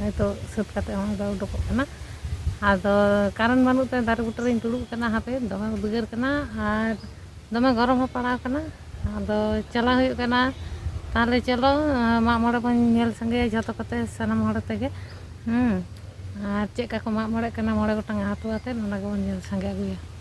ᱱᱤᱛᱚᱜ ᱥᱟᱹᱛ ᱠᱟᱛᱮᱫ ᱦᱚᱸ ᱟᱫᱚ ᱩᱰᱩᱠᱚᱜ ᱠᱟᱱᱟ ᱟᱫᱚ ᱠᱟᱨᱮᱱ ᱵᱟᱹᱱᱩᱜ ᱛᱮ ᱫᱟᱨᱮ ᱵᱩᱴᱟᱹ ᱨᱤᱧ ᱫᱩᱲᱩᱵ ᱠᱟᱱᱟ ᱦᱟᱯᱮ ᱫᱚᱢᱮ ᱩᱫᱽᱜᱟᱹᱨ ᱠᱟᱱᱟ ᱟᱨ ᱫᱚᱢᱮ ᱜᱚᱨᱚᱢ ᱦᱚᱸ ᱯᱟᱲᱟᱣ ᱠᱟᱱᱟ ᱟᱫᱚ ᱪᱟᱞᱟᱣ ᱦᱩᱭᱩᱜ ᱠᱟᱱᱟ ᱛᱟᱦᱚᱞᱮ ᱪᱚᱞᱚ ᱢᱟᱜ ᱢᱚᱬᱮ ᱵᱚᱱ ᱧᱮᱞ ᱥᱟᱸᱜᱮᱭᱟ ᱡᱷᱚᱛᱚ ᱠᱚᱛᱮ ᱥᱟᱱᱟᱢ ᱦᱚᱲ ᱛᱮᱜᱮ ᱟᱨ ᱪᱮᱫ ᱞᱮᱠᱟ ᱠᱚ ᱢᱟᱜ ᱢᱚᱬᱮᱜ ᱠᱟᱱᱟ ᱢᱚᱬᱮ ᱜᱚᱴᱟᱝ ᱟᱛᱳ ᱟᱛᱮᱫ ᱚᱱᱟ ᱜᱮᱵᱚᱱ ᱧᱮᱞ ᱥᱟᱸᱜᱮ ᱟᱹᱜᱩᱭᱟ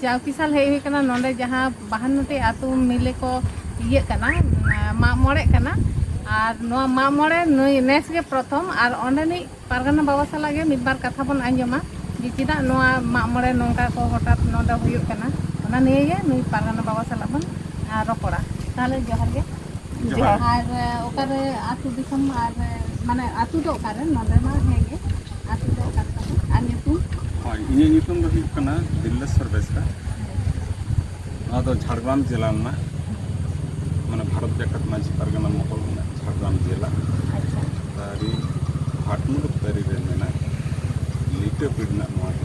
ᱪᱟᱣᱠᱤ ᱥᱟᱞ ᱦᱮᱡ ᱦᱩᱭ ᱠᱟᱱᱟ ᱱᱚᱰᱮ ᱡᱟᱦᱟᱸ ᱵᱟᱦᱟᱱᱱᱚᱴᱤ ᱟᱛᱳ ᱢᱤᱞᱮ ᱠᱚ ᱤᱭᱟᱹᱜ ᱠᱟᱱᱟ ᱢᱟᱜ ᱢᱚᱬᱮᱜ ᱠᱟᱱᱟ ᱟᱨ ᱱᱚᱣᱟ ᱢᱟᱜ ᱢᱚᱬᱮ ᱱᱩᱭ ᱱᱮᱥ ᱜᱮ ᱯᱨᱚᱛᱷᱚᱢ ᱟᱨ ᱚᱸᱰᱮᱱᱤᱡ ᱯᱟᱨᱜᱟᱱᱟ ᱵᱟᱵᱟ ᱥᱟᱞᱟᱜ ᱜᱮ ᱢᱤᱫ ᱵᱟᱨ ᱠᱟᱛᱷᱟ ᱵᱚᱱ ᱟᱸᱡᱚᱢᱟ ᱡᱮ ᱪᱮᱫᱟᱜ ᱱᱚᱣᱟ ᱢᱟᱜ ᱢᱚᱬᱮ ᱱᱚᱝᱠᱟ ᱠᱚ ᱦᱚᱴᱟᱛ ᱱᱚᱰᱮ ᱦᱩᱭᱩᱜ ᱠᱟᱱᱟ ᱚᱱᱟ ᱱᱤᱭᱮ ᱜᱮ ᱱᱩᱭ ᱯᱟᱨᱜᱟᱱᱟ ᱵᱟᱵᱟ ᱥᱟᱞᱟᱜ ᱵᱚᱱ ᱨᱚᱯᱚᱲᱟ ᱛᱟᱦᱚᱞᱮ ᱡᱚᱦᱟᱨ ᱜᱮ ᱡᱚᱦᱟᱨ ᱟᱨ ᱚᱠᱟᱨᱮ ᱟᱹᱛᱩ ᱫᱤᱥᱚᱢ ᱟᱨ ᱢᱟᱱᱮ ᱟᱹᱛᱩ ᱫᱚ ᱚᱠᱟᱨᱮ ᱱᱚᱰᱮ ᱢᱟ ᱦᱮᱸᱜᱮ ᱟᱹᱛᱩ ᱫᱚ ᱚᱠᱟᱨᱮ ᱛᱟᱯᱮ ᱟᱨ ᱧᱩᱛᱩᱢ ᱦᱳᱭ ᱤᱧᱟᱹᱜ ᱧᱩᱛᱩᱢ ᱫᱚ ᱦᱩᱭᱩᱜ ᱠᱟᱱᱟ ᱫᱤᱞᱞᱮᱥᱥᱚᱨ ᱵᱮᱥᱨᱟ ᱱᱚᱣᱟ ᱫᱚ ᱡᱷᱟᱲᱜᱨᱟᱢ ᱡᱮᱞᱟ ᱨᱮᱱᱟᱜ ᱢᱟᱱᱮ ᱵᱷᱟᱨᱚᱛ ᱡᱟᱠᱟᱛ ᱢᱟᱺᱡᱷᱤ ᱯᱟᱨᱜᱟᱱᱟ ᱢᱚᱦᱚᱞ ᱨᱮᱱᱟᱜ ᱡᱷᱟᱲᱜᱨᱟᱢ ᱡᱮᱞᱟ ᱟᱪᱪᱷᱟ ᱛᱟᱹᱨᱤ ᱵᱷᱟᱴᱢᱩᱞᱩᱠ ᱛᱟᱹᱨᱤ ᱨᱮ ᱢᱮᱱᱟᱜ ᱞᱤᱴᱟᱹ ᱯᱤᱲ ᱨᱮᱱᱟᱜ ᱱᱚᱣᱟ ᱫᱚ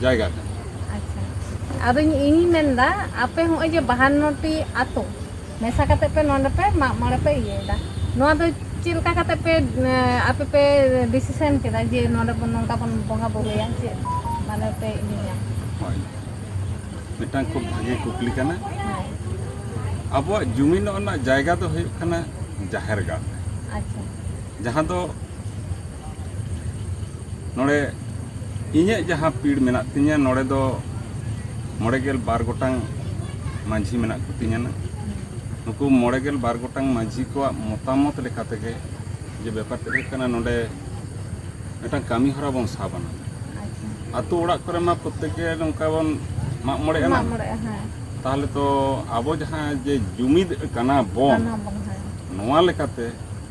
ᱡᱟᱭᱜᱟ ᱠᱟᱱᱟ ᱟᱪᱪᱷᱟ ᱟᱫᱚ ᱤᱧ ᱢᱮᱱᱫᱟ ᱟᱯᱮ ᱦᱚᱸᱜᱼᱚᱭ ᱡᱮ ᱵᱟᱦᱟᱱᱱᱚᱴᱤ ᱟᱛᱳ ᱢᱮᱥᱟ ᱠᱟᱛᱮ ᱯᱮ ᱱᱚᱰᱮ ᱯᱮ ᱢᱟᱜ ᱢᱚᱬᱮ ᱯᱮ ᱤᱭᱟᱹᱭᱮᱫᱟ ᱱᱚᱣᱟ ᱫᱚ ᱪᱮᱫ ᱞᱮᱠᱟ ᱠᱟᱛᱮ ᱯᱮ ᱟᱯᱮ ᱯᱮ ᱰᱤᱥᱤᱥᱮᱱ ᱠᱮᱫᱟ ᱡᱮ ᱱᱚᱰᱮ ᱵᱚᱱ ᱱᱚᱝᱠᱟ ᱵᱚᱱ ᱵᱚᱸᱜᱟ ᱵᱩᱨᱩᱭᱟ ᱪᱮᱫ ᱢᱟᱱᱮ ᱯᱮ ᱤᱭᱟᱹᱭᱟ ᱦᱳᱭ ᱢᱤᱫᱴᱟᱝ ᱠᱷᱩᱵ ᱵᱷᱟᱜᱮ ᱠᱩᱠᱞᱤ ᱠᱟᱱᱟ ᱟᱵᱚᱣᱟᱜ ᱡᱩᱢᱤᱱᱚᱜ ᱨᱮᱱᱟᱜ ᱡᱟᱭᱜᱟ ᱫᱚ ᱦᱩᱭᱩᱜ ᱠᱟᱱᱟ ᱡᱟᱦᱮᱨ ᱜᱟᱲ ᱟᱪᱪᱷᱟ ᱡᱟᱦᱟᱸ ᱫᱚ ᱱᱚᱰᱮ ᱤᱧᱟᱹᱜ ᱡᱟᱦᱟᱸ ᱯᱤᱲ ᱢᱮᱱᱟᱜ ᱛᱤᱧᱟᱹ ᱱᱚᱰᱮ ᱫᱚ ᱢᱚᱬᱮ ᱜᱮᱞ ᱵᱟᱨ ᱜᱚᱴᱟᱝ ᱢᱟᱹᱡᱷᱤ ᱢᱮᱱᱟᱜ ᱠᱚᱛᱤᱧᱟ ᱱᱩᱠᱩ ᱢᱚᱬᱮ ᱜᱮᱞ ᱵᱟᱨ ᱜᱚᱴᱟᱝ ᱢᱟᱹᱡᱷᱤ ᱠᱚᱣᱟᱜ ᱢᱚᱛᱟᱢᱚᱛ ᱞᱮᱠᱟ ᱛᱮᱜᱮ ᱡᱮ ᱵᱮᱯᱟᱨ ᱛᱮ ᱦᱩᱭᱩᱜ ᱠᱟᱱᱟ ᱱᱚᱰᱮ ᱢᱤᱫᱴᱟᱝ ᱠᱟᱹᱢᱤ ᱦᱚᱨᱟ ᱵᱚᱱ ᱥᱟᱵ ᱟᱱᱟ ᱟᱛᱳ ᱚᱲᱟᱜ ᱠᱚᱨᱮ ᱢᱟ ᱯᱨᱚᱛᱮᱠ ᱜᱮ ᱱᱚᱝᱠᱟ ᱵᱚᱱ ᱢᱟᱜ ᱢᱚᱬᱮ ᱮᱱᱟ ᱛᱟᱦᱚᱞᱮ ᱛᱚ ᱟᱵᱚ ᱡᱟᱦᱟᱸ ᱡᱮ ᱡᱩᱢᱤᱫ ᱠᱟᱱᱟ ᱵᱚᱱ ᱱᱚᱣᱟ ᱞᱮᱠᱟᱛᱮ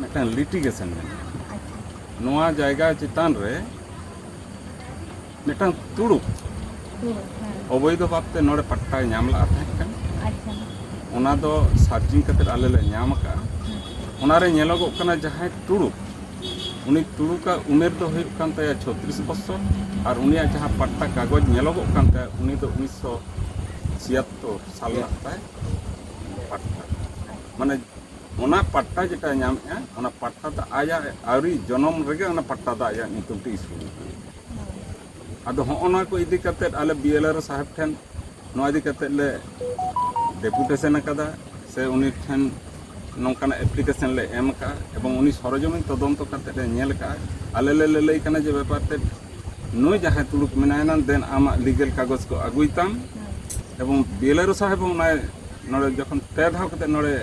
ᱢᱤᱫᱴᱟᱝ ᱞᱤᱴᱤᱜᱮᱥᱚᱱ ᱢᱮᱱᱟᱜᱼᱟ ᱱᱚᱣᱟ ᱡᱟᱭᱜᱟ ᱪᱮᱛᱟᱱ ᱨᱮ ᱢᱤᱫᱴᱟᱝ ᱛᱩᱲᱩᱠ ᱚᱵᱚᱭᱫᱷ ᱵᱷᱟᱵᱛᱮ ᱱᱚᱰᱮ ᱯᱟᱴᱴᱟᱭ ᱧᱟᱢ ᱞᱟᱜᱼᱟ ᱛᱟᱦᱮᱸ ᱠᱟᱱᱟ ᱚᱱᱟ ᱫᱚ ᱥᱟᱨᱪᱤᱝ ᱠᱟᱛᱮ ᱟᱞᱮ ᱞᱮ ᱧᱟᱢ ᱟᱠᱟᱫᱼᱟ ᱚᱱᱟᱨᱮ ᱧᱮᱞᱚᱜᱚᱜ ᱠᱟᱱᱟ ᱡᱟᱦᱟᱸᱭ ᱛᱩᱲᱩᱠ ᱩᱱᱤ ᱛᱩᱲᱩᱠᱟᱜ ᱩᱢᱮᱨ ᱫᱚ ᱦᱩᱭᱩᱜ ᱠᱟᱱ ᱛᱟᱭᱟ ᱪᱷᱚᱛᱨᱤᱥ ᱵᱚᱪᱷᱚᱨ ᱟᱨ ᱩᱱᱤᱭᱟᱜ ᱡᱟᱦᱟᱸ ᱯᱟᱴᱴᱟ ᱠᱟᱜᱚᱡᱽ ᱧᱮᱞᱚᱜᱚᱜ ᱠᱟᱱ ᱛᱟᱭᱟ ᱩᱱᱤ ᱫᱚ ᱩᱱᱤᱥᱥᱚ ᱪᱷᱤᱭᱟᱛᱛᱚᱨ ᱥᱟᱞ ᱨᱮᱱᱟᱜ ᱛᱟᱭ ᱯᱟᱴᱴᱟ ᱢᱟᱱᱮ ᱚᱱᱟ ᱯᱟᱴᱴᱟ ᱡᱮᱴᱟ ᱧᱟᱢᱮᱜᱼᱟ ᱚᱱᱟ ᱯᱟᱴᱴᱟ ᱫᱚ ᱟᱭᱟᱜ ᱟᱹᱣᱨᱤ ᱡᱚᱱᱚᱢ ᱨᱮᱜᱮ ᱚᱱᱟ ᱯᱟᱴᱴᱟ ᱫᱚ ᱟᱭᱟᱜ ᱧᱩᱛᱩᱢ ᱛᱮ ᱤᱥᱩ ᱟᱠᱟᱱᱟ ᱟᱫᱚ ᱦᱚᱸᱜᱼᱚ ᱱᱚᱣᱟ ᱠᱚ ᱤᱫᱤ ᱠᱟᱛᱮ ᱟᱞᱮ ᱵᱤᱮᱞᱟᱨ ᱥᱟᱦᱮᱵᱽ ᱴᱷᱮᱱ ᱱᱚᱣᱟ ᱤᱫᱤ ᱠᱟᱛᱮ ᱞᱮ ᱰᱮᱯᱩᱴᱮᱥᱚᱱ ᱟᱠᱟᱫᱟ ᱥᱮ ᱩᱱᱤ ᱴᱷᱮᱱ ᱱᱚᱝᱠᱟᱱᱟᱜ ᱮᱯᱞᱤᱠᱮᱥᱚᱱ ᱞᱮ ᱮᱢ ᱟᱠᱟᱫᱼᱟ ᱮᱵᱚᱝ ᱩᱱᱤ ᱥᱚᱨᱚᱡᱚᱢᱤᱱ ᱛᱚᱫᱚᱱᱛᱚ ᱠᱟᱛᱮ ᱞᱮ ᱧᱮᱞ ᱟᱠᱟᱫᱼᱟ ᱟᱞᱮ ᱞᱮ ᱞᱟᱹᱞᱟᱹᱭ ᱠᱟᱱᱟ ᱡᱮ ᱵᱮᱯᱟᱨ ᱛᱮ ᱱᱩᱭ ᱡᱟᱦᱟᱸᱭ ᱛᱩᱲᱩᱠ ᱢᱮᱱᱟᱭᱟ ᱫᱮᱱ ᱟᱢᱟᱜ ᱞᱤᱜᱮᱞ ᱠᱟᱜᱚᱡᱽ ᱠᱚ ᱟᱹᱜᱩᱭ ᱛᱟᱢ ᱮᱵᱚᱝ ᱵᱤᱮᱞᱟᱨ ᱥᱟᱦᱮᱵᱽ ᱦᱚᱸ ᱚᱱᱟᱭ ᱱᱚᱰᱮ ᱡᱚᱠᱷᱚᱱ ᱯᱮ ᱫᱷᱟᱣ ᱠᱟᱛᱮ ᱱᱚᱰᱮ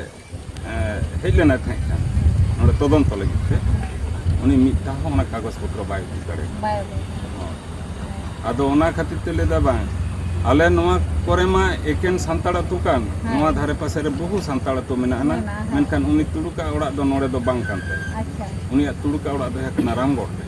ᱦᱮᱡ ᱞᱮᱱᱟᱭ ᱛᱟᱦᱮᱸ ᱠᱟᱱ ᱱᱚᱰᱮ ᱛᱚᱫᱚᱱᱛᱚ ᱞᱟᱹᱜᱤᱫ ᱛᱮ ᱩᱱᱤ ᱢᱤᱫ ᱫᱷᱟᱣ ᱦᱚᱸ ᱚᱱᱟ ᱠᱟᱜᱚᱡᱽ ᱯᱚᱛᱨᱚ ᱵᱟᱭ ᱩᱫᱩᱜ ᱫᱟᱲᱮᱭᱟᱜᱼᱟ ᱟᱫᱚ ᱚᱱᱟ ᱠᱷᱟᱹᱛᱤᱨ ᱛᱮ ᱞᱟᱹᱭᱫᱟ ᱵᱟᱝ ᱟᱞᱮ ᱱᱚᱣᱟ ᱠᱚᱨᱮ ᱢᱟ ᱮᱠᱮᱱ ᱥᱟᱱᱛᱟᱲ ᱟᱹᱛᱩ ᱠᱟᱱ ᱱᱚᱣᱟ ᱫᱷᱟᱨᱮ ᱯᱟᱥᱮ ᱨᱮ ᱵᱚᱦᱩ ᱥᱟᱱᱛᱟᱲ ᱟᱹᱛᱩ ᱢᱮᱱᱟᱜ ᱟᱱᱟ ᱢᱮᱱᱠᱷᱟᱱ ᱩᱱᱤ ᱛᱩᱲᱩᱠᱟᱜ ᱚᱲᱟᱜ ᱫᱚ ᱱᱚᱰᱮ ᱫᱚ ᱵᱟᱝ ᱠᱟᱱ ᱛᱟᱭᱟ ᱩᱱᱤᱭᱟᱜ ᱛᱩᱲᱩᱠᱟᱜ ᱚᱲᱟᱜ ᱫᱚ ᱦᱩᱭᱩᱜ ᱠᱟᱱᱟ ᱨᱟᱢᱜᱚᱲ ᱨᱮ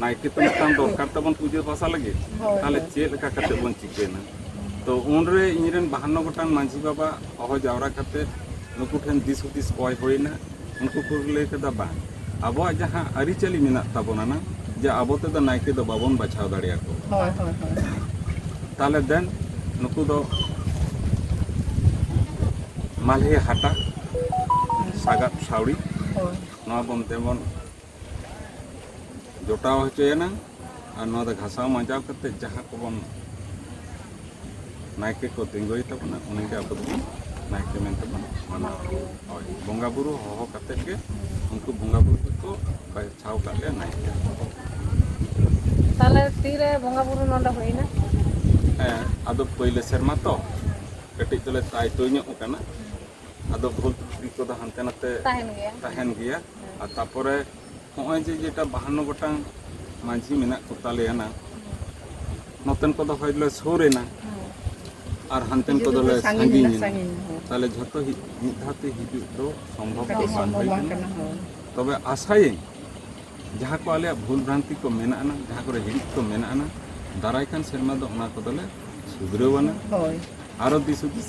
ᱱᱟᱭᱠᱮ ᱛᱚ ᱢᱤᱫᱴᱟᱝ ᱫᱚᱨᱠᱟᱨ ᱛᱟᱵᱚᱱ ᱯᱩᱡᱟᱹ ᱯᱟᱥᱟ ᱞᱟᱹᱜᱤᱫ ᱛᱟᱦᱚᱞᱮ ᱪᱮᱫ ᱞᱮᱠᱟ ᱠᱟᱛᱮ ᱵᱚᱱ ᱪᱤᱠᱟᱹᱭᱱᱟ ᱛᱚ ᱩᱱᱨᱮ ᱤᱧᱨᱮᱱ ᱵᱟᱦᱟᱱᱱᱚ ᱜᱚᱴᱟᱝ ᱢᱟᱺᱡᱷᱤ ᱵᱟᱵᱟ ᱦᱚᱦᱚ ᱡᱟᱣᱨᱟ ᱠᱟᱛᱮ ᱱᱩᱠᱩ ᱴᱷᱮᱱ ᱫᱤᱥ ᱦᱩᱫᱤᱥ ᱠᱚᱭ ᱦᱩᱭᱱᱟ ᱩᱱᱠᱩ ᱠᱚ ᱞᱟᱹᱭ ᱠᱮᱫᱟ ᱵᱟᱝ ᱟᱵᱚᱣᱟᱜ ᱡᱟᱦᱟᱸ ᱟᱹᱨᱤᱪᱟᱹᱞᱤ ᱢᱮᱱᱟᱜ ᱛᱟᱵᱚᱱᱟ ᱱᱟ ᱡᱮ ᱟᱵᱚ ᱛᱮᱫᱚ ᱱᱟᱭᱠᱮ ᱫᱚ ᱵᱟᱵᱚᱱ ᱵᱟᱪᱷᱟᱣ ᱫᱟᱲᱮᱭᱟᱠᱚ ᱛᱟᱦᱚᱞᱮ ᱫᱮᱱ ᱱᱩᱠᱩ ᱫᱚ ᱢᱟᱞᱦᱮ ᱦᱟᱴᱟᱜ ᱥᱟᱜᱟᱫ ᱥᱟᱣᱲᱤ ᱱᱚᱣᱟ ᱵᱚᱱ ᱛᱮᱵᱚᱱ ᱡᱚᱴᱟᱣ ᱦᱚᱪᱚᱭᱮᱱᱟ ᱟᱨ ᱱᱚᱣᱟ ᱫᱚ ᱜᱷᱟᱥᱟᱣ ᱢᱟᱸᱡᱟᱣ ᱠᱟᱛᱮ ᱡᱟᱦᱟᱸ ᱠᱚᱵᱚᱱ ᱱᱟᱭᱠᱮ ᱠᱚ ᱛᱤᱸᱜᱩᱭ ᱛᱟᱵᱚᱱᱟ ᱩᱱᱤᱜᱮ ᱟᱵᱚ ᱫᱚᱵᱚᱱ ᱱᱟᱭᱠᱮ ᱢᱮᱱᱛᱮ ᱵᱚᱱ ᱢᱟᱱᱟᱣ ᱦᱳᱭ ᱵᱚᱸᱜᱟ ᱵᱩᱨᱩ ᱦᱚᱦᱚ ᱠᱟᱛᱮ ᱜᱮ ᱩᱱᱠᱩ ᱵᱚᱸᱜᱟ ᱵᱩᱨᱩ ᱫᱚᱠᱚ ᱵᱟᱪᱷᱟᱣ ᱠᱟᱜ ᱞᱮᱭᱟ ᱱᱟᱭᱠᱮ ᱛᱟᱦᱚᱞᱮ ᱛᱤᱨᱮ ᱵᱚᱸᱜᱟ ᱵᱩᱨᱩ ᱱᱚᱰᱮ ᱦᱩᱭᱱᱟ ᱦᱮᱸ ᱟᱫᱚ ᱯᱳᱭᱞᱳ ᱥᱮᱨᱢᱟ ᱛᱚ ᱠᱟᱹᱴᱤᱡ ᱫᱚᱞᱮ ᱛᱟᱭᱛᱚ ᱧᱚᱜ ᱠᱟᱱᱟ ᱟᱫᱚ ᱵᱷᱩᱞ ᱛᱨᱩᱴᱤ ᱠᱚᱫᱚ ᱦᱟᱱᱛᱮ ᱱᱟᱛᱮ ᱛᱟᱦᱮᱱ ᱜᱮᱭᱟ ᱛᱟᱦᱮᱱ ᱜᱮᱭᱟ ᱟᱨ ᱛᱟᱯᱚᱨᱮ ᱱᱚᱜᱼᱚᱭ ᱡᱮ ᱡᱮᱴᱟ ᱵᱟᱦᱟᱱᱱᱚ ᱜᱚᱴᱟᱝ ᱢᱟᱹᱡᱷᱤ ᱢᱮᱱᱟᱜ ᱠᱚ ᱛᱟᱞᱮᱭᱟ ᱱᱟᱝ ᱱᱚᱛᱮᱱ ᱠᱚᱫᱚ ᱦᱚᱭ ᱞᱮ ᱥᱩᱨ ᱮᱱᱟ ᱟᱨ ᱦᱟᱱᱛᱮᱱ ᱠᱚᱫᱚ ᱞᱮ ᱥᱟᱺᱜᱤᱧ ᱮᱱᱟ ᱛᱟᱦᱞᱮ ᱡᱷᱚᱛᱚ ᱢᱤᱫ ᱫᱷᱟᱣ ᱛᱮ ᱦᱤᱡᱩᱜ ᱫᱚ ᱥᱚᱢᱵᱷᱚᱵ ᱫᱚ ᱵᱟᱝ ᱦᱩᱭ ᱠᱟᱱᱟ ᱛᱚᱵᱮ ᱟᱥᱟᱭᱟᱹᱧ ᱡᱟᱦᱟᱸ ᱠᱚ ᱟᱞᱮᱭᱟᱜ ᱵᱷᱩᱞ ᱵᱷᱨᱟᱱᱛᱤ ᱠᱚ ᱢᱮᱱᱟᱜ ᱟᱱᱟ ᱡᱟᱦᱟᱸ ᱠᱚᱨᱮ ᱦᱤᱲᱤᱡ ᱠᱚ ᱢᱮᱱᱟᱜ ᱟᱱᱟ ᱫᱟᱨᱟᱭ ᱠᱟᱱ ᱥᱮᱨᱢᱟ ᱫᱚ ᱚᱱᱟ ᱠᱚᱫᱚᱞᱮ ᱥᱩᱫᱷᱨᱟᱹᱣ ᱟᱱᱟ ᱟᱨᱚ ᱫᱤᱥ ᱦᱩᱫᱤᱥ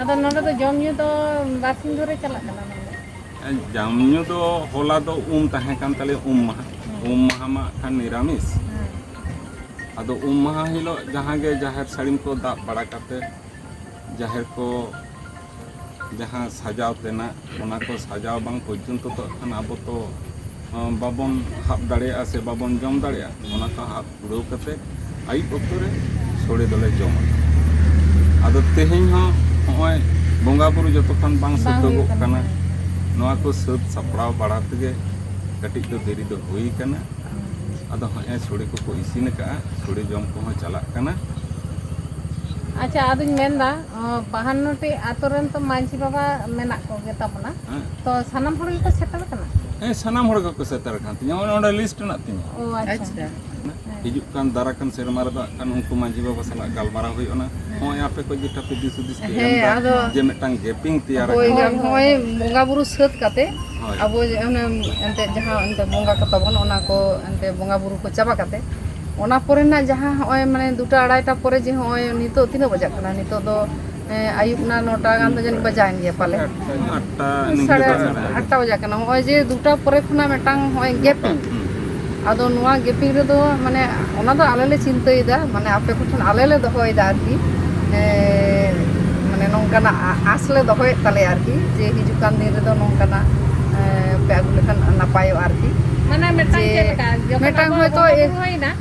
ᱟᱫᱚ ᱱᱚᱰᱮ ᱫᱚ ᱡᱚᱢ ᱧᱩ ᱫᱚ ᱵᱟᱨᱥᱤᱧ ᱫᱷᱚᱨᱮ ᱪᱟᱞᱟᱜ ᱠᱟᱱᱟ ᱱᱚᱰᱮ ᱡᱚᱢ ᱧᱩ ᱫᱚ ᱦᱚᱞᱟ ᱫᱚ ᱩᱢ ᱛᱟᱦᱮᱸ ᱠᱟᱱ ᱛᱟᱞᱮ ᱩᱢ ᱢᱟᱦᱟ ᱩᱢ ᱢᱟᱦᱟ ᱢᱟ ᱠᱷᱟᱱ ᱱᱤᱨᱟᱢᱤᱥ ᱟᱫᱚ ᱩᱢ ᱢᱟᱦᱟ ᱦᱤᱞᱳᱜ ᱡᱟᱦᱟᱸ ᱜᱮ ᱡᱟᱦᱮᱨ ᱥᱟᱹᱲᱤᱢ ᱠᱚ ᱫᱟᱵ ᱵᱟᱲᱟ ᱠᱟᱛᱮ ᱡᱟᱦᱮᱨ ᱠᱚ ᱡᱟᱦᱟᱸ ᱥᱟᱡᱟᱣ ᱛᱮᱱᱟᱜ ᱚᱱᱟ ᱠᱚ ᱥᱟᱡᱟᱣ ᱵᱟᱝ ᱯᱚᱨᱡᱚᱱᱛᱚ ᱛᱚ ᱠᱷᱟᱱ ᱟᱵᱚ ᱛᱚ ᱵᱟᱵᱚᱱ ᱦᱟᱵ ᱫᱟᱲᱮᱭᱟᱜᱼᱟ ᱥᱮ ᱵᱟᱵᱚᱱ ᱡᱚᱢ ᱫᱟᱲᱮᱭᱟᱜᱼᱟ ᱚᱱᱟ ᱠᱚ ᱦᱟᱵ ᱯᱩᱨᱟᱹᱣ ᱠᱟᱛᱮ ᱟᱹᱭᱩᱵ ᱚᱠᱛᱚ ᱨᱮ ᱥᱚᱲᱮ ᱫᱚᱞᱮ ᱡᱚᱢᱟ ᱟᱫᱚ ᱛᱮᱦᱮᱧ ᱦᱚᱸ ᱱᱚᱜᱼᱚᱭ ᱵᱚᱸᱜᱟ ᱵᱩᱨᱩ ᱡᱚᱛᱚ ᱠᱷᱚᱱ ᱵᱟᱝ ᱥᱟᱹᱛᱚᱜᱚᱜ ᱠᱟᱱᱟ ᱱᱚᱣᱟ ᱠᱚ ᱥᱟᱹᱛ ᱥᱟᱯᱲᱟᱣ ᱵᱟᱲᱟ ᱛᱮᱜᱮ ᱠᱟᱹᱴᱤᱡ ᱫᱚ ᱫᱮᱨᱤ ᱫᱚ ᱦᱩᱭ ᱠᱟᱱᱟ ᱟᱫᱚ ᱦᱚᱸᱜᱼᱚᱭ ᱥᱚᱲᱮ ᱠᱚᱠᱚ ᱤᱥᱤᱱ ᱟᱠᱟᱜᱼᱟ ᱥᱚᱲᱮ ᱡᱚᱢ ᱠᱚᱦᱚᱸ ᱪᱟᱞᱟᱜ ᱠᱟᱱᱟ ᱟᱪᱪᱷᱟ ᱟᱫᱚᱧ ᱢᱮᱱᱫᱟ ᱵᱟᱦᱟᱱᱱᱚᱴᱤ ᱟᱛᱳ ᱨᱮᱱ ᱛᱚ ᱢᱟᱺᱡᱷᱤ ᱵᱟᱵᱟ ᱢᱮᱱᱟᱜ ᱠᱚᱜᱮ ᱛᱟᱵᱚᱱᱟ ᱦᱮᱸ ᱛᱚ ᱥᱟᱱᱟᱢ ᱦᱚᱲ ᱜᱮᱠᱚ ᱥᱮᱴᱮᱨ ᱠᱟᱱᱟ ᱦᱮᱸ ᱥᱟᱱᱟᱢ ᱦᱚᱲ ᱜᱮᱠᱚ ᱥᱮᱴᱮᱨ ᱠᱟᱱ ᱛᱤᱧᱟ ᱚᱱᱮ ᱚᱸᱰᱮ ᱞᱤᱥᱴ ᱢᱮᱱᱟᱜ ᱛᱤᱧᱟ ᱚ ᱟᱪᱪᱷᱟ ᱦᱤᱡᱩᱜ ᱠᱟᱱ ᱫᱟᱨᱟ ᱠᱟᱱ ᱥᱮᱨᱢᱟ ᱨᱮᱫᱚ ᱦᱟᱸᱜ ᱠᱷᱟᱱ ᱩᱱᱠᱩ ᱢᱟᱺᱡᱷᱤ ᱵᱟᱵᱟ ᱥᱟᱞᱟᱜ ᱜᱟᱞᱢᱟᱨᱟᱣ ᱦᱩᱭᱩᱜᱼᱟ ᱱᱚᱜᱼᱚᱭ ᱟᱯᱮ ᱠᱚ ᱡᱮᱴᱟ ᱯᱮ ᱫᱤᱥ ᱦᱩᱫᱤᱥ ᱯᱮ ᱦᱮᱸ, ᱮᱢᱫᱟ ᱟᱫᱚ ᱡᱮ ᱢᱤᱫᱴᱟᱝ ᱜᱮᱯᱤᱝ ᱛᱮᱭᱟᱨ ᱦᱳᱭ ᱟᱠᱟᱱᱟ ᱱᱚᱜᱼᱚᱭ ᱵᱚᱸᱜᱟ ᱵᱩᱨᱩ ᱥᱟᱹᱛ ᱠᱟᱛᱮ ᱦᱳᱭ ᱟᱵᱚ ᱡᱮ ᱚᱱᱮ ᱮᱱᱛᱮᱫ ᱡᱟᱦᱟᱸ ᱮᱱᱛᱮᱫ ᱵᱚᱸᱜᱟ ᱠᱚ ᱛᱟᱵᱚᱱ ᱚᱱᱟ ᱠᱚ ᱮᱱᱛᱮᱫ ᱵᱚᱸᱜᱟ ᱵᱩᱨᱩ ᱠᱚ ᱪᱟᱵᱟ ᱠᱟᱛᱮ ᱚᱱᱟ ᱯᱚᱨᱮᱱᱟᱜ ᱡᱟᱦᱟᱸ ᱦᱚᱸᱜᱼᱚᱭ ᱢᱟᱱᱮ ᱫᱩᱴᱟ ᱟᱲᱟᱭᱴᱟ ᱯᱚᱨᱮ ᱡᱮ ᱦᱚᱸᱜᱼᱚᱭ ᱱᱤᱛᱚᱜ ᱛᱤᱱᱟᱹᱜ ᱵᱟᱡᱟᱜ ᱠᱟᱱᱟ ᱱᱤᱛᱚᱜ ᱫᱚ ᱟᱹᱭᱩᱵ ᱱᱟ ᱱᱚᱴᱟ ᱜᱟᱱ ᱫᱚ ᱡᱟᱹᱱᱤᱡ ᱵᱟᱡᱟᱣᱮᱱ ᱜᱮᱭᱟ ᱯᱟᱞᱮ ᱥᱟᱲᱮ ᱟᱴᱴᱟ ᱵᱟᱡᱟᱜ ᱠᱟᱱᱟ ᱱᱚᱜᱼᱚᱭ ᱡᱮ ᱫᱩᱴᱟ ᱯᱚᱨᱮ ᱠᱷᱚᱱᱟᱜ ᱢᱤᱫᱴᱟᱝ ᱱᱚᱜᱼᱚᱭ ᱜᱮᱯᱤᱝ ᱟᱫᱚ ᱱᱚᱣᱟ ᱜᱮᱯᱤᱝ ᱨᱮᱫᱚ ᱢᱟᱱᱮ ᱚᱱᱟ ᱫᱚ ᱟᱞᱮ ᱞᱮ ᱪᱤᱱᱛᱟᱹᱭᱮᱫᱟ ᱢᱟᱱᱮ ᱟᱯᱮ ᱠᱚᱴᱷᱮᱱ ᱟᱞᱮ ᱞᱮ ᱫᱚᱦᱚᱭᱮᱫᱟ ᱟᱨᱠᱤ ᱢᱟᱱᱮ ᱱᱚᱝᱠᱟᱱᱟᱜ ᱟᱸᱥ ᱞᱮ ᱫᱚᱦᱚᱭᱮᱫ ᱛᱟᱞᱮᱭᱟ ᱟᱨᱠᱤ ᱡᱮ ᱦᱤᱡᱩᱜ ᱠᱟᱱ ᱫᱤᱱ ᱨᱮᱫᱚ ᱱᱚᱝᱠᱟᱱᱟᱜ ᱯᱮ ᱟᱹᱜᱩ ᱞᱮᱠᱷᱟᱱ ᱱᱟᱯᱟᱭᱚᱜᱼᱟ ᱟᱨᱠᱤ ᱢᱟᱱᱮ ᱢᱤᱫᱴᱟᱝ ᱪᱮᱫ ᱞᱮᱠᱟ ᱢᱤᱫᱴᱟᱝ ᱦᱚᱭᱛᱳ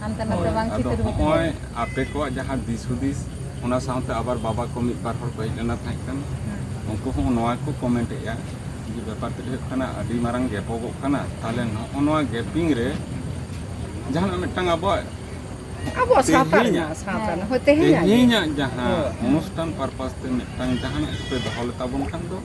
ᱦᱟᱱᱛᱮ ᱱᱟᱛᱮ ᱵᱟᱝ ᱟᱫᱚ ᱪᱤᱛᱟᱹᱨ ᱵᱟᱹᱛᱟᱹᱨ ᱦᱚᱸᱜᱼᱚᱭ ᱟᱯᱮ ᱠᱚᱣᱟᱜ ᱡᱟᱦᱟᱸ ᱫᱤᱥ ᱦᱩᱫᱤᱥ ᱚᱱᱟ ᱥᱟᱶᱛᱮ ᱟᱵᱟᱨ ᱵᱟᱵᱟ ᱠᱚ ᱢᱤᱫ ᱵᱟᱨ ᱦᱚᱲ ᱠᱚ ᱦᱮᱡ ᱞᱮᱱᱟ ᱛᱟᱦᱮᱸ ᱠᱟᱱᱟ ᱩᱱᱠᱩ ᱦᱚᱸ ᱱᱚᱣᱟ ᱠᱚ ᱠᱚᱢᱮᱱᱴ ᱮᱫᱼᱟ ᱡᱮ ᱵᱮᱯᱟᱨ ᱛᱮᱫ ᱦᱩᱭᱩᱜ ᱠᱟᱱᱟ ᱟᱹᱰᱤ ᱢᱟᱨᱟᱝ ᱜᱮᱯᱚᱜᱚᱜ ᱠᱟᱱᱟ ᱛᱟᱦᱚᱞᱮ ᱱᱚᱜᱼᱚ ᱱᱚᱣᱟ ᱜᱮᱯᱤᱝ ᱨᱮ ᱡᱟᱦᱟᱱᱟᱜ ᱢᱤᱫᱴᱟᱝ ᱟᱵᱚᱣᱟᱜ ᱟᱵᱚᱣᱟᱜ ᱥᱟᱶᱛᱟ ᱛᱮᱦᱮᱧᱟᱜ- ᱨᱮᱱᱟᱜ ᱥᱟᱶᱛᱟ ᱨᱮᱱᱟᱜ ᱦᱳᱭ ᱛᱮᱦᱮᱧᱟᱜ ᱜᱮ᱾ ᱛᱮᱦᱮᱧᱟᱜ ᱡᱟᱦᱟᱸ ᱚᱱᱩᱥᱴᱷᱟᱱ ᱯᱟᱨᱯᱟᱥ ᱛᱮ ᱢᱤᱫᱴᱟᱝ ᱡᱟᱦᱟᱱᱟᱜ ᱠᱚᱯᱮ ᱫᱚᱦᱚ ᱞᱮᱛᱟᱵᱚᱱ ᱠᱷᱟᱱ ᱫᱚ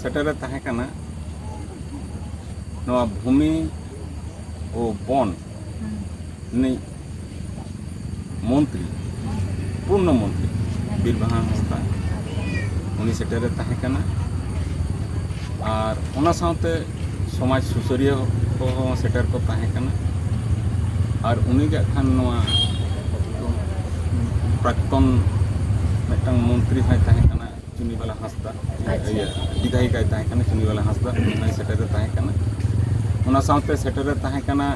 ᱥᱮᱴᱮᱨᱮ ᱛᱟᱦᱮᱸ ᱠᱟᱱᱟ ᱱᱚᱣᱟ ᱵᱷᱩᱢᱤ ᱳ ᱵᱚᱱ ᱨᱤᱱᱤᱡ ᱢᱚᱱᱛᱨᱤ ᱯᱩᱨᱱᱚ ᱢᱚᱱᱛᱨᱤ ᱵᱤᱨᱵᱟᱦᱟ ᱦᱟᱸᱥᱫᱟ ᱩᱱᱤ ᱥᱮᱴᱮᱨᱮ ᱛᱟᱦᱮᱸ ᱠᱟᱱᱟ ᱟᱨ ᱚᱱᱟ ᱥᱟᱶᱛᱮ ᱥᱚᱢᱟᱡᱽ ᱥᱩᱥᱟᱹᱨᱤᱭᱟᱹ ᱠᱚᱦᱚᱸ ᱥᱮᱴᱮᱨ ᱠᱚ ᱛᱟᱦᱮᱸ ᱠᱟᱱᱟ ᱟᱨ ᱩᱱᱤᱜᱮ ᱠᱷᱟᱱ ᱱᱚᱣᱟ ᱯᱨᱟᱠᱛᱚᱱ ᱢᱤᱫᱴᱟᱝ ᱢᱚᱱᱛᱨᱤ ᱦᱚᱸᱭ ᱛᱟᱦᱮᱸ ᱠᱟᱱᱟ ᱪᱩᱱᱤᱵᱟᱞᱟ ᱦᱟᱸᱥᱫᱟ ᱟᱪᱪᱷᱟ᱾ ᱤᱭᱟᱹ ᱵᱤᱫᱷᱟᱭᱤᱠᱟᱭ ᱛᱟᱦᱮᱸ ᱠᱟᱱᱟ ᱪᱩᱱᱤᱵᱟᱞᱟ ᱦᱟᱸᱥᱫᱟ ᱩᱱᱤ ᱥᱮᱴᱮᱨᱮ ᱛᱟᱦᱮᱸ ᱠᱟᱱᱟ ᱚᱱᱟ ᱥᱟᱶᱛᱮ ᱥᱮᱴᱮᱨᱮ ᱛᱟᱦᱮᱸ ᱠᱟᱱᱟ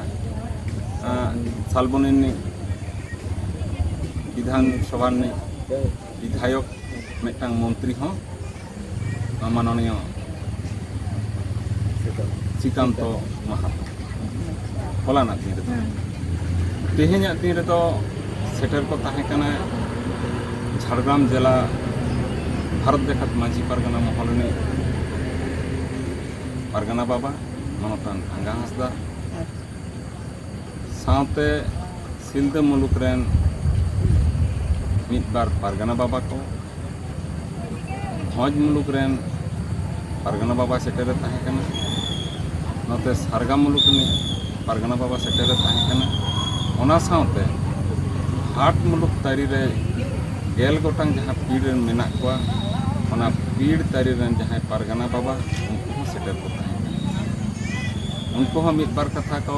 ᱟᱸ, ᱥᱟᱞᱵᱚᱱᱤ ᱨᱤᱱᱤᱡ ᱵᱤᱫᱷᱟᱱ ᱥᱚᱵᱷᱟ ᱨᱤᱱᱤᱡ ᱵᱤᱫᱷᱟᱭᱚᱠ ᱢᱤᱫᱴᱟᱝ ᱢᱚᱱᱛᱨᱤ ᱦᱚᱸ ᱢᱟᱱᱚᱱᱤᱭᱚ ᱥᱨᱤᱠᱟᱱᱛᱚ ᱢᱟᱦᱟᱛᱚ ᱦᱚᱞᱟᱱᱟᱜ ᱫᱤᱱ ᱨᱮᱫᱚ ᱛᱮᱦᱮᱧᱟᱜ ᱫᱤᱱ ᱨᱮᱫᱚ ᱥᱮᱴᱮᱨ ᱠᱚ ᱛᱟᱦᱮᱸ ᱠᱟᱱᱟ ᱡᱷᱟᱲᱜᱨᱟᱢ ᱡᱮᱞᱟ ᱵᱷᱟᱨᱚᱛ ᱡᱟᱠᱟᱛ ᱢᱟᱹᱡᱷᱤ ᱯᱟᱨᱜᱟᱱᱟ ᱢᱚᱦᱚᱞ ᱨᱤᱱᱤᱡ ᱯᱟᱨᱜᱟᱱᱟ ᱵᱟᱵᱟ ᱢᱟᱱᱚᱛᱟᱱ ᱟᱸᱜᱟ ᱦᱟᱸᱥᱫᱟ ᱥᱟᱶᱛᱮ ᱥᱤᱞᱫᱟᱹ ᱢᱩᱞᱩᱠ ᱨᱮᱱ ᱢᱤᱫ ᱵᱟᱨ ᱯᱟᱨᱜᱟᱱᱟ ᱵᱟᱵᱟ ᱠᱚ ᱵᱷᱚᱸᱡᱽ ᱢᱩᱞᱩᱠ ᱨᱮᱱ ᱯᱟᱨᱜᱟᱱᱟ ᱵᱟᱵᱟ ᱥᱮᱴᱮᱨᱮ ᱛᱟᱦᱮᱸ ᱠᱟᱱᱟ ᱱᱚᱛᱮ ᱥᱟᱨᱜᱟ ᱢᱩᱞᱩᱠ ᱨᱤᱱᱤᱡ ᱯᱟᱨᱜᱟᱱᱟ ᱵᱟᱵᱟ ᱥᱮᱴᱮᱨᱮ ᱛᱟᱦᱮᱸ ᱠᱟᱱᱟ ᱚᱱᱟ ᱥᱟᱶᱛᱮ ᱦᱟᱴ ᱢᱩᱞᱩᱠ ᱛᱟᱹᱨᱤ ᱨᱮ ᱜᱮᱞ ᱜᱚᱴᱟᱝ ᱡᱟᱦᱟᱸ ᱯᱤᱲ ᱨᱮᱱ ᱢᱮᱱᱟᱜ ᱠᱚᱣᱟ ᱚᱱᱟ ᱯᱤᱲ ᱛᱟᱹᱨᱤ ᱨᱮᱱ ᱡᱟᱦᱟᱸᱭ ᱯᱟᱨᱜᱟᱱᱟ ᱵᱟᱵᱟ ᱩᱱᱠᱩ ᱦᱚᱸ ᱥᱮᱴᱮᱨ ᱠᱚ ᱛᱟᱦᱮᱸ ᱠᱟᱱᱟ ᱩᱱᱠᱩ ᱦᱚᱸ ᱢᱤᱫ ᱵᱟᱨ ᱠᱟᱛᱷᱟ ᱠᱚ